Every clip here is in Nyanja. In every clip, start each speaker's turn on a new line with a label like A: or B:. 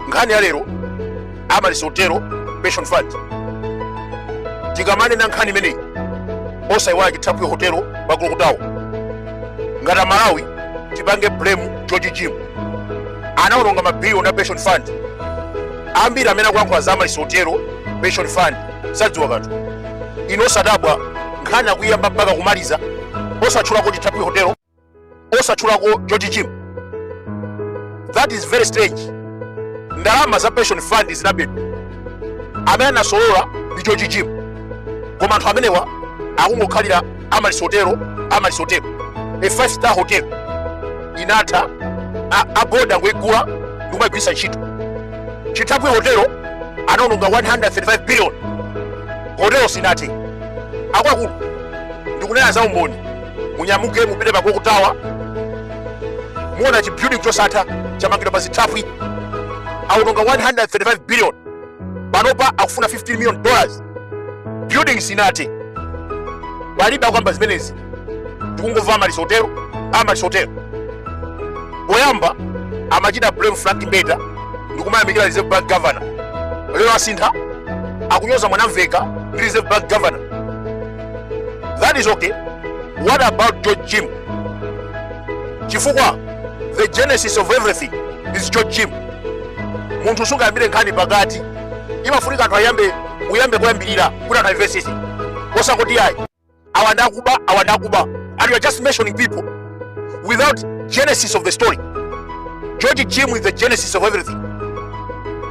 A: nkhani ya lero amaryllis hotelo pension fund tikamanena nkhani imeneyi osayiwala chithaphwi hotelo pa Clock Tower ngati amalawi tipange blame george jim anaononga mabiliyoni a pension fund ambiri amene akulankhula za amaryllis hotelo pension fund sadziwa kanthu inu osadabwa nkhani akuiyamba mpaka kumaliza osatchulako chithaphwi hotelo osatchulako george jim that is very strange ndalama za pension fund zinabedwa amene anasolola ndi george jim koma anthu amenewa akungokhalira amaryllis hotelo amaryllis hotelo a five star hotel inatha a bodi angoigula ndikumaigwirisa ntchito chithaphwi hotelo anaononga 135 billion hotelo sinathe akuluakulu ndikunena za umboni munyamuke mupite pa Clock Tower muona chi building chosatha chamangidwa pa zithaphwi aononga 135 billion panopa akufuna 15 million dollars building sinathe palibe akukamba zimenezi tikungomva amaryllis hotelo amaryllis hotelo poyamba amachita blame frank mbeta ndikumayamikira reserve bank governor lero asintha akunyoza mwanamvekha ndi reserve bank governor that is okay what about george jim chifukwa the genesis of everything is george jim munthu sungayambire nkhani pakati imafunika anthu ayambe uyambe kuyambirira kuti anthu amvesese osangoti ayi awa ndakuba awa ndakuba and you are just mentioning people without genesis of the story george jim is the genesis of everything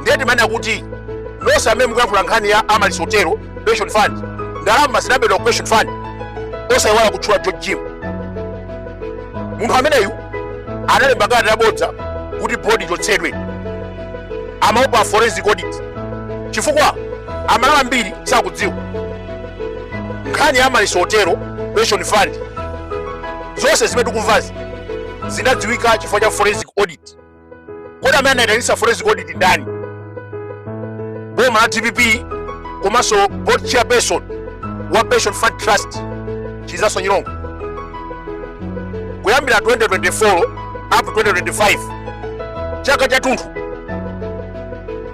A: ndiye timanena kuti nonse amene mukuyankhula nkhani ya amaryllis hotelo pension fund ndalama zinabedwa ku pension fund osayiwala kutchula george jim munthu ameneyu analemba kalata yabodza kuti bodi ichotsedwe amaopa forensic audit chifukwa amalawi ambiri sakudziwa nkhani ya amaryllis hotelo pension fund zonse zimene tikumvazi zinadziwika chifukwa cha forensic audit kodi amene anaitanisa forensic audit ndani boma la dpp komanso board chairperson wa pension fund trust chizaso nyirongo kuyambira 2024 up to 2025 chaka chathunthu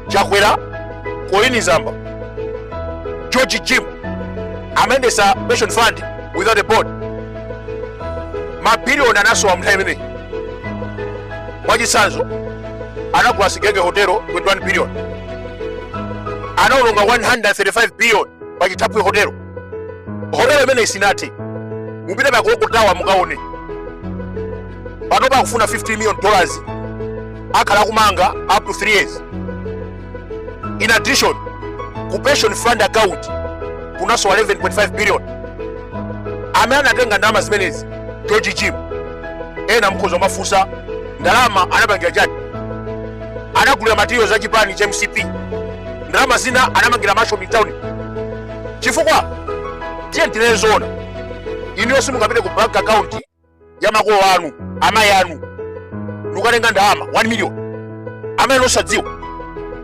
A: chakwera colleen zamba George Jim amayendetsa pension fund without a board mabiliyoni anasowa mnthawi imeneyi mwachitsanzo anagula Sigelege hotelo 21 billion anaononga 135 billion pa chithaphwi hotelo hotelo imeneyi sinathe mupite pa Clock Tower mukaone panopa akufuna 15 million dollars akhala akumanga up to 3 years In addition, ku pension fund account kunasowa 11.5 billion amene anatenga ndalama zimenezi george jim ena mkhoza kumafunsa ndalama anapangira chani anagulira materials za chipani cha mcp ndalama zina anamangira mansion mtauni chifukwa tiye tinene zoona inuyo simungapite ku bank account ya makolo anu amayi anu ndikukatenga ndalama 1 million amayi anu osadziwa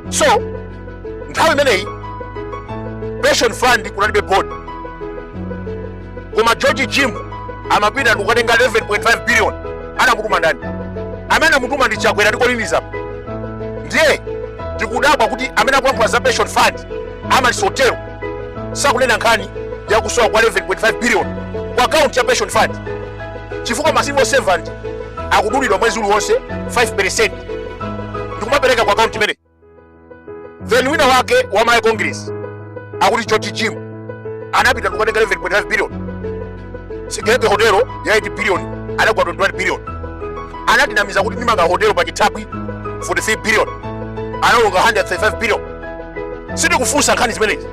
A: so nthawi imeneyi pension fund kunalibe board koma george jim amapita ndikukatenga 11.5 billion anamutuma ndani amene anamutuma ndi chakwera ndi Colleen Zamba ndiye tikudabwa kuti amene akulankhula za pension fund Amaryllis hotelo sakunena nkhani ya kusowa kwa 11.5 billion ku akaunti ya pension fund chifukwa ma civil servant akudulidwa mwezi uliwonse 5% ndikumapereka ku akaunti imeneyi then wina wake wa Malawi Congress akuti George Jim anapita ndikukatenga 11.5 billion Sigelege hotelo ya 8 billion anagula 21 billion anatinamiza kuti ndimanga hotelo pa chithaphwi 43 billion anaononga 135 billion sitikufunsa nkhani zimenezi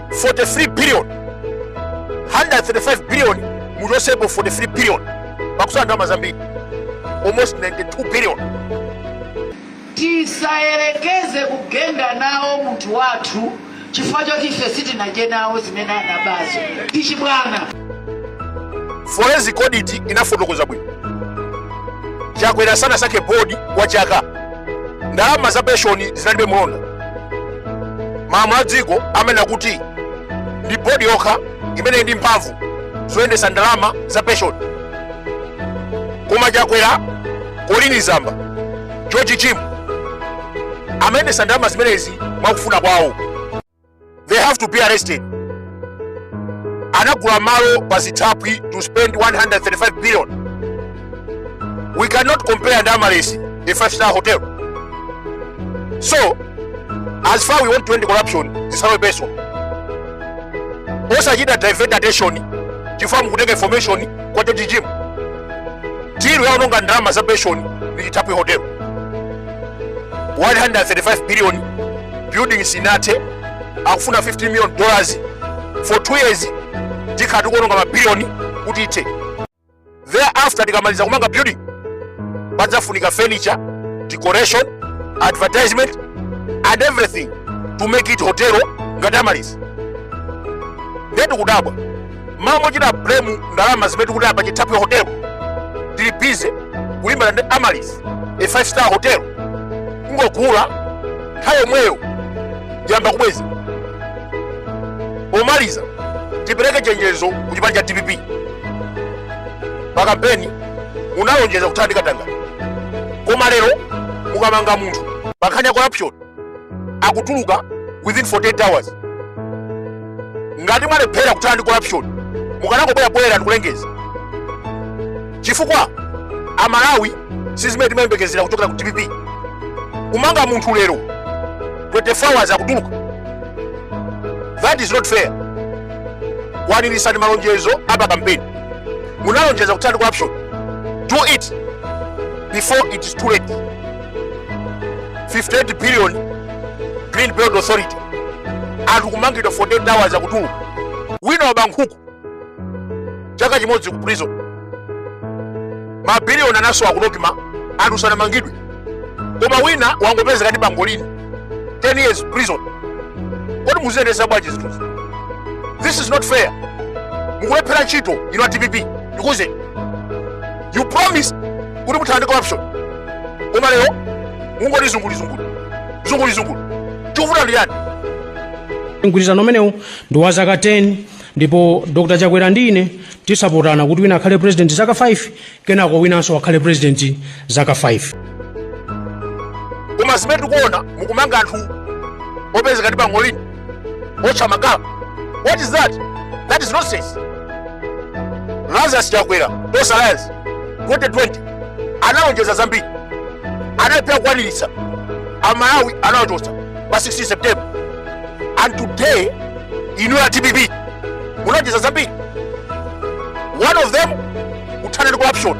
A: 43 billion 135 billion muchotsepo 43 billion pakusala ndalama zambiri almost 92 billion
B: tisayerekeze kugenda nawo munthu wathu chifukwa choti ife sitinadye nawo zimene anabazo ndi chibwana
A: forensic audit inafotokoza bwino chakwera sanasankhe bodi kwa chaka ndalama za penshoni zinalibe mlonda malamulo a dziko amanena kuti ndi bodi yokha imene ili ndi mphamvu zoyendetsa ndalama za penshoni koma chakwera Colleen Zamba George Jim amayendetsa ndalama zimenezi mwakufuna kwawo they have to be arrested anagula malo pa zithaphwi to spend 135 billion we cannot compare ndi Amaryllis a five star hotel so as far we want to end corruption zisakhale personal osachita divert attention chifukwa mukutenga information kwa George Jim tiru yaononga ndalama za pension ndi chithaphwi hotel 135 billion building sinathe akufuna 50 million dollars for 2 years tikhala tikuononga mabiliyoni kuti ithe thereafter tikamaliza kumanga building padzafunika furniture decoration advertisement and everything to make it hotel ngati amaryllis ndetu kudabwa mmalo mochita blame ndalama zimene tikutaya pa chithaphwi hotel tili bize kulimbana ndi amaryllis a five star hotel kungogula nthawi yomweyo tiyamba kubweza pomaliza tipereke chenjezo ku chipani cha dpp pa kampeni munalonjeza kuthana ndi katangale koma lero mukamanga munthu pa nkhani ya corruption akutuluka within 48 hours ngati mwalephera kuthana ndi corruption mukanangobwera poyera ndikulengeza chifukwa amalawi sizimene timayembekezera kuchokera ku dpp kumanga munthu lero 24 hours akutuluka that is not fair kwaniritsani malonjezo apa kampeni munalonjeza kuthana ndi corruption do it before it is too late 58 billion green belt authority anthu kumangidwa 48 hours akutuluka wina waba nkhuku chaka chimodzi ku prison mabiliyoni anasowa ku nocma anthu sanamangidwe koma wina wangopezeka ndi bangolini 10 years prison kodi mukuziyendetsa bwanji zinthuzi this is not fair mukulephera ntchito inu a dpp because you promised kuti muthana ndi corruption koma lero mungoti zungulizungulu zungulizungulu chikuvuta ndi chani
C: mgwirizano umenewu ndi wa zaka 10 ndipo dr chakwera ndi ine tidzapatsana kuti wina akhale president zaka 5 kenako winanso akhale president zaka
A: 5 koma zimene tikuona mukumanga anthu opezeka ndi bangolini Otcha makala. What is that? That is nonsense. Lazarus Chakwera, Tonse Alliance, 2020, analonjeza zambiri. Analephera kukwaniritsa. Amalawi anawachotsa pa 16 September. And today, inu a DPP, munalonjeza zambiri. One of them, kuthana ndi corruption.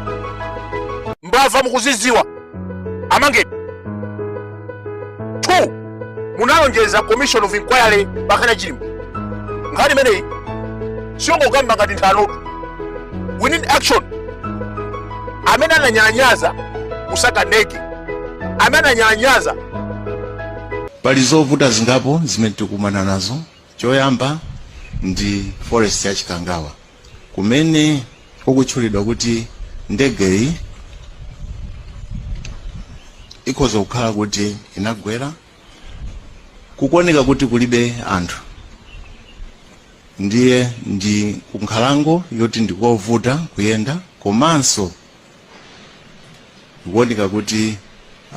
A: Mbava mukuzidziwa. Amangeni. 2 munalonjeza commission of inquiry pankhani ya chilima nkhani imeneyi siyongokamba ngati nthanotu we need action amene ananyalanyaza kusaka ndege amene
D: ananyalanyaza pali zovuta zingapo zimene tikumana nazo Choyamba ndi forest ya Chikangawa kumene kukutchulidwa kuti ndegeyi ikhoza kukhala kuti inagwera kukuoneka kuti kulibe anthu ndiye ndi kunkhalango yoti ndikovuta kuyenda komanso ikuoneka kuti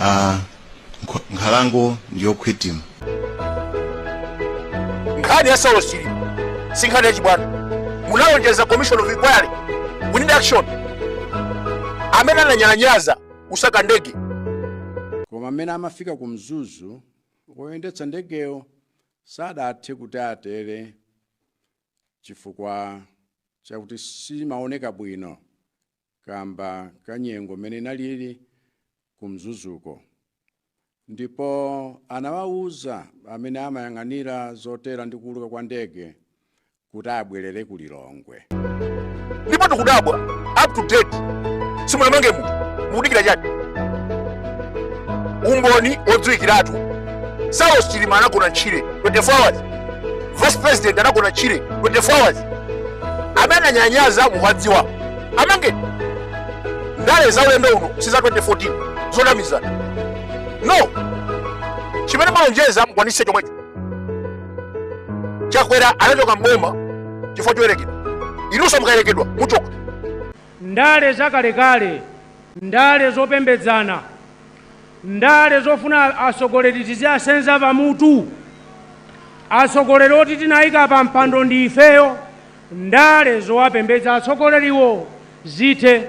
D: ah, nkho- nkhalango
A: ndiyokhwitima nkhani ya saulos chilima si nkhani yachibwana munalonjeza commission of inquiry we need action amene ananyalanyaza kusaka ndege
E: koma mmene amafika ku mzuzu woyendetsa ndegeyo sadathe kuti atere chifukwa chakuti simaoneka bwino kamba ka nyengo mene inalili ku Mzuzuko ndipo anawauza amene amayang'anira zotera ndi kuuluka kwa ndege kuti abwerere ku Lilongwe. ndipo
A: tikudabwa up to date simunamange munthu mukudikira chani umboni odziwikiratu saulos chilima anagona ntchire 24 hours vice president anagona ntchire 24 hours amene ananyalanyaza muwadziwa amangeni ndale za ulendo uno si za 2014 zonamizana no chimene mwalonjeza mukwanise chomwecho chakwera anachoka mboma chifukwa choyerekedwa inunso mukayerekedwa muchoka
C: ndale zakalekale
A: ndale
C: zopembedzana Ndale zofuna atsogoleri tiziasenza pamutu. Atsogoleri oti tinaika pa mpando ndi ifeyo. Ndale zowapembedza atsogoleriwo zithe.